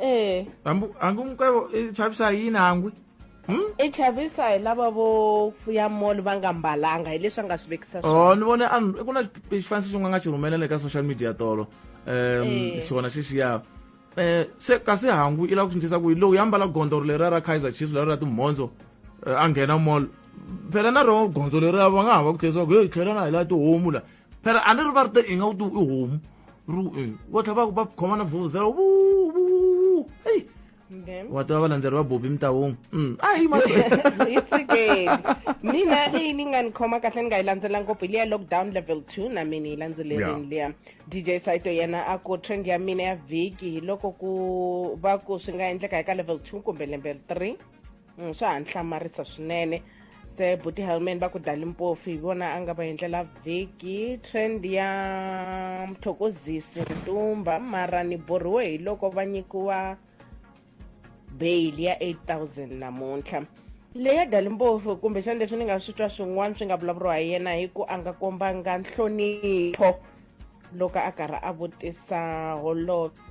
ee hambi hambi mukwevo i chavisa hi yini hangwi Hmm? i chavisa hi lava vo fuya mall va nga mbalanga hi leswi a nga swi vekisa swona. o Oh, ni vone a ku na xi- xifaniso xin'we a nga xi rhumelela eka social media tolo um Eh. xona xexiya um se kasi hangu i lava ku swindlisa ku yi lowu ya mbala gondzo leriya ra kaizer chiefs leriya ra timhondzo eh, a nghena mall phela na roho gondzo leriya va nga ha va ku tlherisa ku hey tlhela na hi laha tihomu la phela a ni ri va ri te i nga wu tiwu i homu ri e vo tlha va va khomana vhuzela vu vu eyi wa tiva valandzeri va bobi mitahungu Mm, a yi mali hi tshikeni mina leyi ni nga ni khoma kahle ni nga yi landzela ngopfu hi liya lockdown level 2 na mina yi landzelerini liya dj saito yena a ku trend ya mina ya vhiki hi loko ku va ku swi nga endleka hi ka level 2 kumbe level 3 mm, swa ha ni hlamarisa swinene se buti helman va ku dali mpofu hi vona a nga va endlela vhiki trend ya mthokozisi ntumba mara ni borhiwe hi loko va nyikiwa bail ya 8000 namuntlha leya dali mpofu kumbexani leswi ni nga swi twa swin'wana swi nga vulavuriwa hi yena hi ku a nga kombanga nhlonipho loko a karhi a vutisa holobye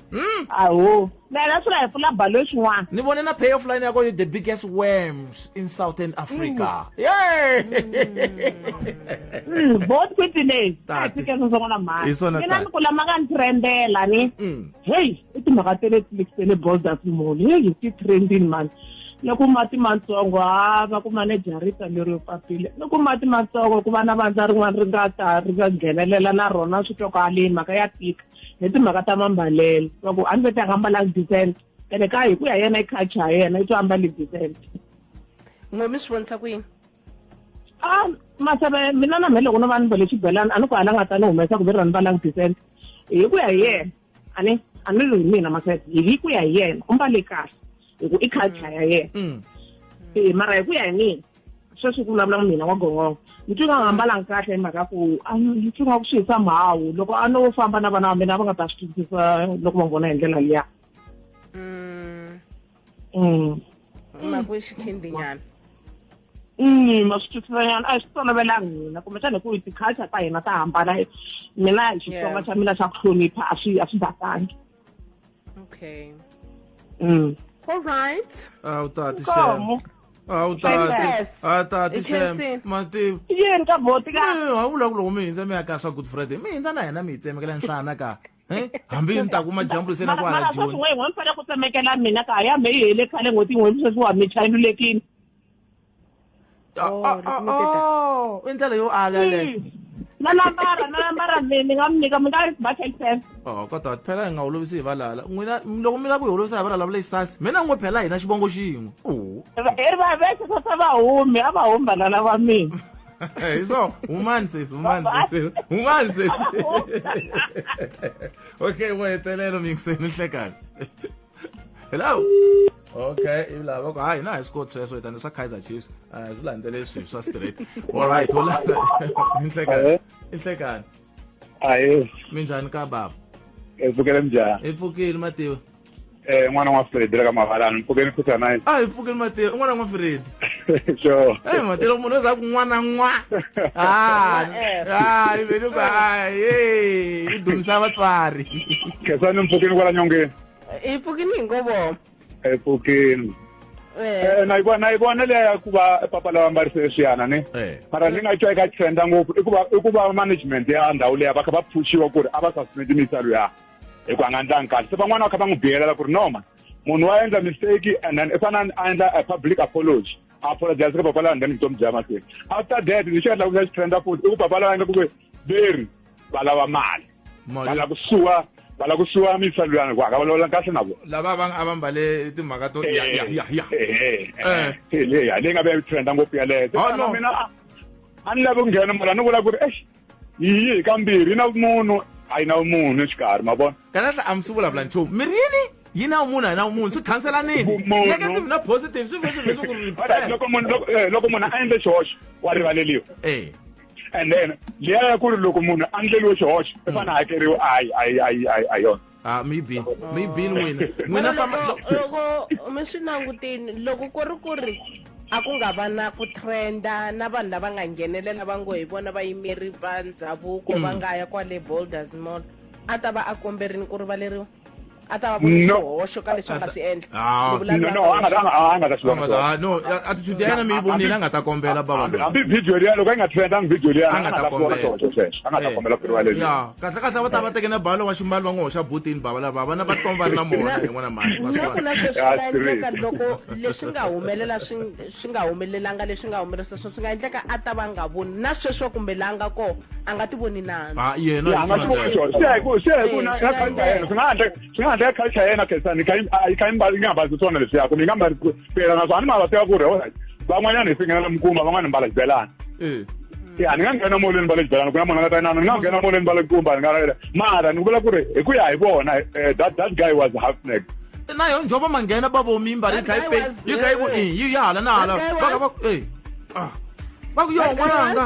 Mm. Aho. Now that's why I pull up balloons one. Ni bone na payoff line yako you the biggest worms in Southern Africa. Mm. Yay! Mm. Both with the name. That's because of one of mine. It's on a time. Kula magan trendela ni. Mm. Hey, ito makatele tlikele balls that mo. Hey, you keep trending man. loko mati matsongo ha va ku manejarita leri papile loko mati matsongo ku va na vandza rin'wana ri nga ta ri nga nghenelela na rona swi twa ku haleni mhaka ya tika hi timhaka ta mambalelo va ku a ni vete a nga ambalanga decent ene ka hi ku ya yena i culture ya yena i to ambale decent n'we mi swi vonisa ku yini a ah, maseve mina na mhe loko no va ni vele xibelani a ni ku hala nga ta ni humesa ku ve ra ni valanga decent hi ku ya hi yena a ni a ni ri hi mina maseve hi ku ya hi yena u mbale kahle hi ku i culture ya yena mm. Mm. mara hi ku ya hi mina sweswi ku vulavula mina wa gongongo ni twi nga hambalanga kahle hi mhaka ku ni twi nga ku swi hisa mhawu loko a no famba na vana va mina a va nga ta swi twisisa loko va n'wi vona hi ndlela liya mm. Mm. ma ku xikhindinyana ma swi twisisanyana a hi swi tolovelanga hina kumbexana hi ku hi ti-culture ta hina ta hambana mina hi xitsonga xa mina xa ku hlonipha a swi a swi batangi Okay. Mm. All right. Awu tati Shem. Awu tati. Awu tati Shem. Mati. Yini ka boti ka? Awu la kulo mi nzame aka swa Good Friday. Mi nzana yana mi tseme kala nhlana ka. Eh? Hambi ni ta kuma jambu sena kwa la June. Mara mara swa ku tsemekela mina ka ya me yi hele khale ngoti ngwe sweswi wa mi chayilulekini. Oh, oh, oh, oh. i ndlela yo ala le hmm. na nambara na nambara mi ni nga mi nyika mi nga ba ten cent oh kodwa phela hi nga holovisi hi valala n'wina loko mi lava ku hi holovisa hi valala vule sasi mi na n'wi phela hina xivongo xin'we oh. i ri va vese swa swa vahumi a va humi valala va mina hi swona humani sesi humani sesi humani sesi okay wa hetelelo mi ngiseni hlekani hello okay ilava ku hayi na hi swi koti sweswo hi tani swa kaizer chiefs a hi swi landzele leswi swa straight allright u lava i nhlekani i nhlekani ahe minjhani ka baba hi pfukele minjhani hi pfukile mativa um n'wana n'wa fredi la ka mavalani mpfukeni futhi a hi pfukile mativa i n'wana n'wa fredi sure eh matelo munhu za kun'wana n'wa ah ah ivele ba hey i dumisa vatswari khesani mpfukini kwala nyongeni i pfukini ngovo i pfukini eh. eh na yivona yivona leya ku va papa lava mbarise swiyana ni eh. mara ni nga twa eka trenda ngopfu i ku va i ku va management ya ndhawu leya va kha va pfuxiwa ku ri a va sasumeti mitsalo ya hi ku a nga ndlangi kahle se van'wana va kha va n'wi biyelela ku ri noma munhu wa endla mistake and then i fanele a endla a public apology a apologize ka papa lawa nghena vutomi bya mahlweni after that lexi nga endlaku xa xi trenda futhi i ku papa lawa nga ku ve veri va lava mali va lava ku suwa va lava ku suwa mitsalo yani ku aka va lawula kahle na vona lava va a va mbale timhaka to ya ya ya ya eh, eh, eh. leyi nga ve trenda ngopfu yaleyo oh, mina a ni lavi ku nghena mara ni vula ku ri exi yiyi hi kambirhi yi na vumunhu a yi na vumunhu exikarhi ma vona kanahla a mi swi vulavula nchumu mi ri yini yi na vumunhu a yi na vumunhu swi khanselanini Vumunhu. negative na positive swi vhe swi vhe swi ku ri Alright, loko munhu loko- eh, loko munhu a endle xihoxo wa rivaleliwa Eh, and then liya ya ku ri loko munhu a ndleliwe xihoxo i fane a hakeriwa a yi a yi a yi a yi a yona ha ah, mi bin mi bin oh. n'wina n'wina famba loko mi swi langutini loko ku ri ku ri a ku nga va na ku trenda na vanhu lava nga nghenelela va ngo hi vona vayimeri va ndhavuko va mm. nga ya kwale boulders mall a ta va a komberini ku rivaleriwa a ta va voni xihoxo ka leswi a nga swi endla ah. no attitude ya yena mi yi vonile a nga ta kombela babahambi video liya loko a yi nga trendanga video liya a nga ta kombela a nga ta eh. kombela ku rivaleriwa kahle kahle va ta va teke na balo wa ximbalo va n'wi hoxa butini bava lava vana va tikomba va ri na mona hi n'wana mhani na ku na sweswi nga endleka loko leswi nga humelela swi swi nga humelelanga leswi nga humelerisa swona swi nga endleka a ta va nga voni na sweswo kumbe la nga kona a nga ti voni nandzu yena a nga ti voni swona swi ya hi ku swi ya hi ku na ka yena swi nga endleka swi nga endleka culture ya yena khensani yi kha yi mbali yi nga mbali swona leswiya kumbe yi nga mbali phela naswona a ni ma va tiva ku ri olright van'wanyana hi swi nghenela mikumba van'wana hi mbala xibelani eh. ya ni nga nghena molweni va le xibelani ku na munhu a nga ta inana ni nga nghena molweni va le kumba ni nga ravela mara ni vula ku ri hi ku ya hi vona eh, that that guy was half neck na yo njoba ma nghena ba vomi mbari yi kha yi pe yi kha yi ku eh, yi ya hala na hala va ka va eh, ah. va ku yo n'wananga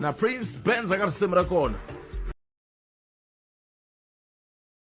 na prince benz a nga risimu ra kona